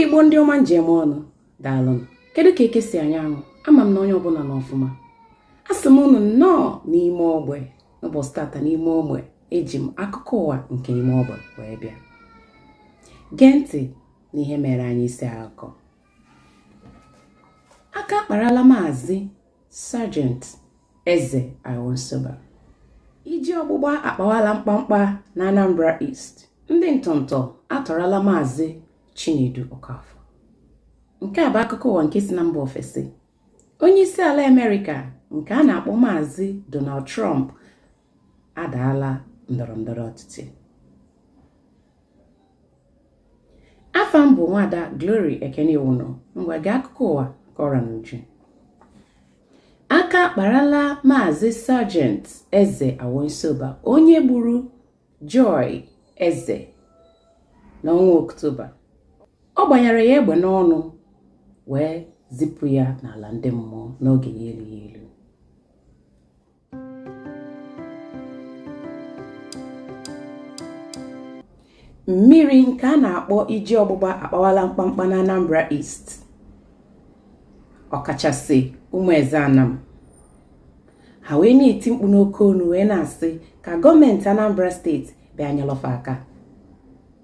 igbo ndị ọma m ji eme ọnụ daalụnụ kedu ka eke si anya anwụ ama m na onye ọbụla nọ ọfụma asị m unu nnọọ n'ime ogbe n'ụbọchị tata n'ime ogbe eji m akụkọ ụwa nke ime ogbe wee bịa gee ntị na ihe mere anyị isi akụkọ aka akparala maazị Sergeant Eze Aiwansoba iji ọgbụgba akpawala mkpamkpa na Anambra East ndị ntọntọ atọrọla maazị Chinedu Okafor nke a bụ akụkọ ụwa nke si na mba ofesi onye isi ala Amerịka nke a na-akpọ maazị Donald Trump adaala ndọrọ ndọrọ ọchịchị afa m bụ nwada Glory Ekeniwunu ngwa gee akụkọ ụwa ka ọ ra n'uju aka akparala maazị Sergeant Eze Aiwansoba onye gburu Joy Eze n'ọnwa Oktoba ọ gbanyere ya egbe n'ọnụ wee zipụ ya n'ala ndị mmụọ n'oge ya elughị elu mmiri nke a na-akpọ iji ọgbụgba akpawala mkpamkpa na Anambra East ọkachasị ụmụeze anam ha wee na-eti mkpu n'oke onu wee na-asị ka gọọmenti Anambra steeti bịa nyelụ fa aka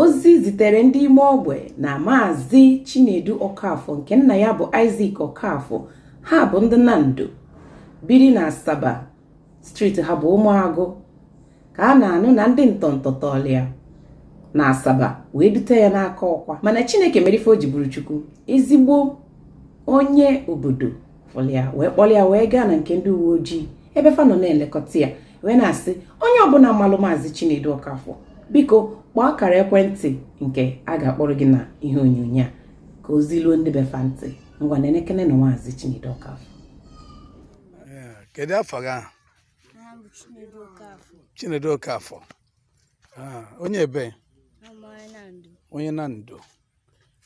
ozi zitere ndị ime ogbe na maazị chinedu okafọ nke nna ya bụ Isaac okafọ ha bụ ndị nando biri na asaba street ha bụ ụmụagụ ka a na-anụ na ndị ntọntọ tọọlụ ya na asaba wee dute ya n'Akọkwa mana chineke mere ife o ji bụrụ chukwu ezigbo onye obodo fụlụ ya wee kpọlụ ya wee gaa na nke ndị uwe ojii ebe fa nọ na-elekọta ya wee na-asị onye ọbụla malụ maazị Chinedu Ọkafọ biko kpọọ akara ekwentị nke a ga-akpọrọ gị na ihe onyonyo a ka ozi luo ndị be fa ntị ngwa nekenenụ maazị Chinedu Ọkafọ kedu afa gị Chinedu Ọkafọ ah, onye ebe onye Nando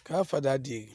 ka afọ dị adịghị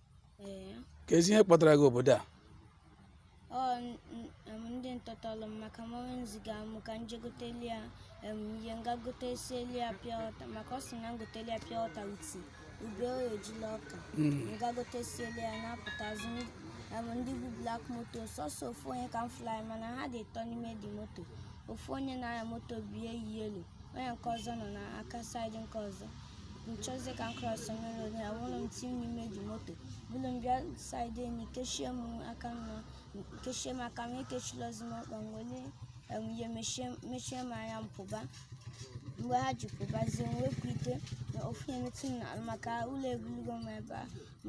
ee keezi ihe kpọtara gị obodo a ọ n- n- em, ndị ntọ tọlụ m maka mọmị m ziga m ka m je goteli ya em, ihe m ga gotesieli ya pure water maka ọ sị na m goteli ya pure water with ube ọ ya-eji la ọka m ga gotesieli ya na-apụtazi ndị- em, ndị bu black moto sọsọ ofu onye ka m fụlụ mana ha dị ịtọ n'ime the moto ofu onye na-anya moto bie yi elu onye nke ọzọ nọ n'aka side nke ọzọ m chọzie ka m krọs nyere onye ya wuru m ti m n'ime ji moto buru m bịa saịdị enyi kechie m aka m kechie m aka m ekechilozi m ọkpa m were ihe mechie m anya m pụba mgbe ha ji pụbazie m wepụ ite na ofu na-emetụ m n'ala maka ụlọ ebulugo m ebe a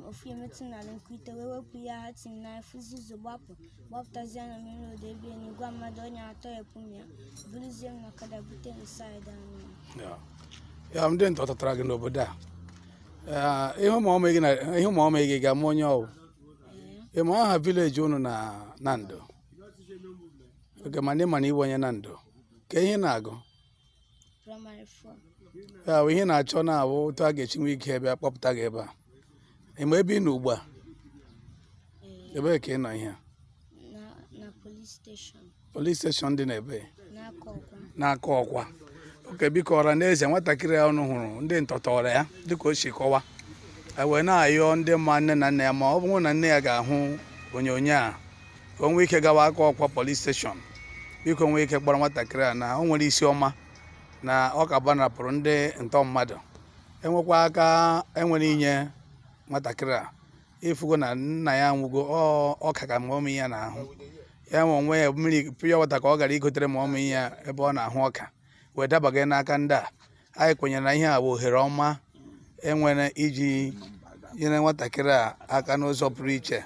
ofu emetụ n'ala nke ite wee wepụ ya ha tim na-afụzi ụzọ gbapụ gbapụtazie na mmiri odo ebe enyi gwa mmadụ onye a tọpụ m ya buruzie m na ọkada bute m saịdị anyị Ya. ya ndị ntọ tọtara gị n'obodo a Eh, ị hụ mọmị gị na- ị hụ mọmị gị ị ga-ama onye ọ wụ ị ma aha vileji unu na Nando oke mana ị ma na ị wụ onye Nando kee ihe ị na-agụ praịmarị fọ ya bụ ihe a na-achọ na-abụ otu a ga-esi nwee ike bịa kpọpụta gị ebe a ị ma ebe ị nọ ugbu a ee, ebee ka ị nọ ihe a? na na polis steshọn polis steshọn dị n'ebe n'Akọkwa n'Akọkwa oke biko ọra na eze nwatakịrị a unu hụrụ ndị ntọ tọọrọ ya dịka o si kọwa e wee na-ayọ ndị ma nne na nna ya ma ọ bụrụ na nne ya ga-ahụ onyonyo a ka o nwee ike gawa Akọkwa polis steshọn biko nwee ike kpọrọ nwatakịrị a na o nwere isi ọma na ọ ka gbanarapụrụ ndị ntọ mmadụ enwekwa aka e nwere inye nwatakịrị a ị fụgo na nna ya nwụgo ọka ka mọmị ya na-ahụ ya nwa onwe ya mmiri piọ wata ka ọ gara igotere mọmị ya ebe ọ na-ahụ ọka wee dabaga n'aka ndị a anyị kwenyere na ihe a bụ ohere ọma e nwere iji nyere nwatakịrị a aka n'ụzọ pụrụ iche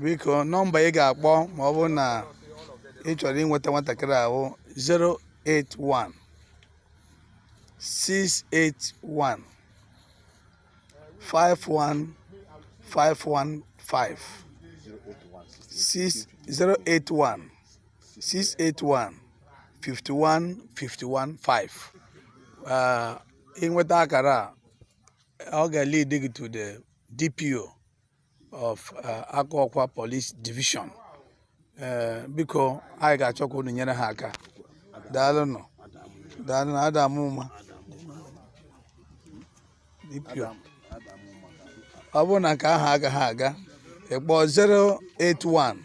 biko nọmba ị ga-akpọ ma ọ bụrụ na ị chọrọ inweta nwatakịrị a wụ 081 681 51515 081 681 51 51 5 ị nweta akara a ọ ga-lead gị to the DPO of uh, Akọkwa Police Division eh, biko anyị ga-achọ ka unu nyere ha aka daalụnụ daalụnụ ada m ọma DPO ọ bụrụ na nke ahụ agaghị aga ị kpọọ 081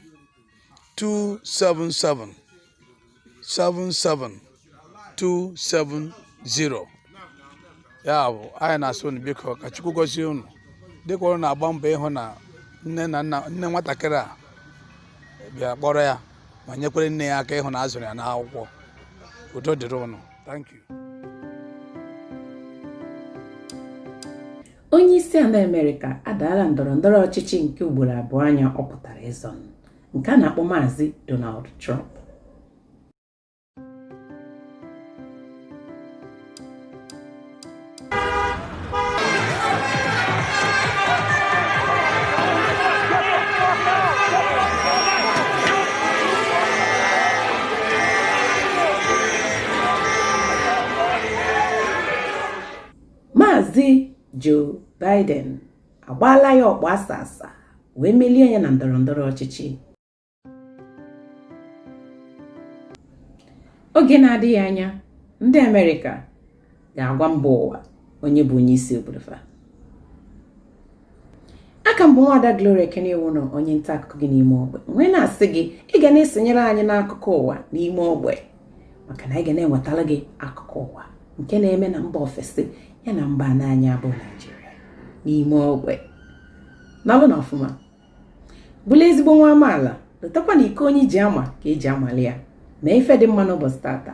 277 77270 ya bụ anyị na-asị unu biko ka Chukwu gozie unu dịka unu na-agba mbọ ịhụ na nne na nna nne nwatakịrị a bịa kpọrọ ya ma nyekwere nne ya aka ịhụ na a zụrụ ya n'akwụkwọ udo dịrị unu thank you onye isi ala amerịka adaala ndọrọ ndọrọ ọchịchị nke ugboro abụa nya ọ pụtara ịzọ nke a na-akpọ maazị donald trump Maazị Joe Biden agbaala ya ọkpụ asa asa wee melie ya na ndọrọ ndọrọ ọchịchị oge na-adịghị anya ndị Amerịka ga-agwa mba ụwa onye bụ onye isi obodo fa a ka m bụ nwada Gloria Ekenewunọ onye nta akụkọ gị n'ime ogbe m wee na-asị gị ị ga na-esonyere anyị n'akụkọ ụwa n'ime ogbe maka na anyị ga na-ewetara gị akụkọ ụwa nke na-eme na mba ofesi ya na mba ana anyị bụ Naịjirịa n'ime ogbe nọlụ na ọfụma bụlụ ezigbo nwa amaala lotakwa na ike onye ji ama ka eji amali ya mee ife dị mma n'ụbọchị taata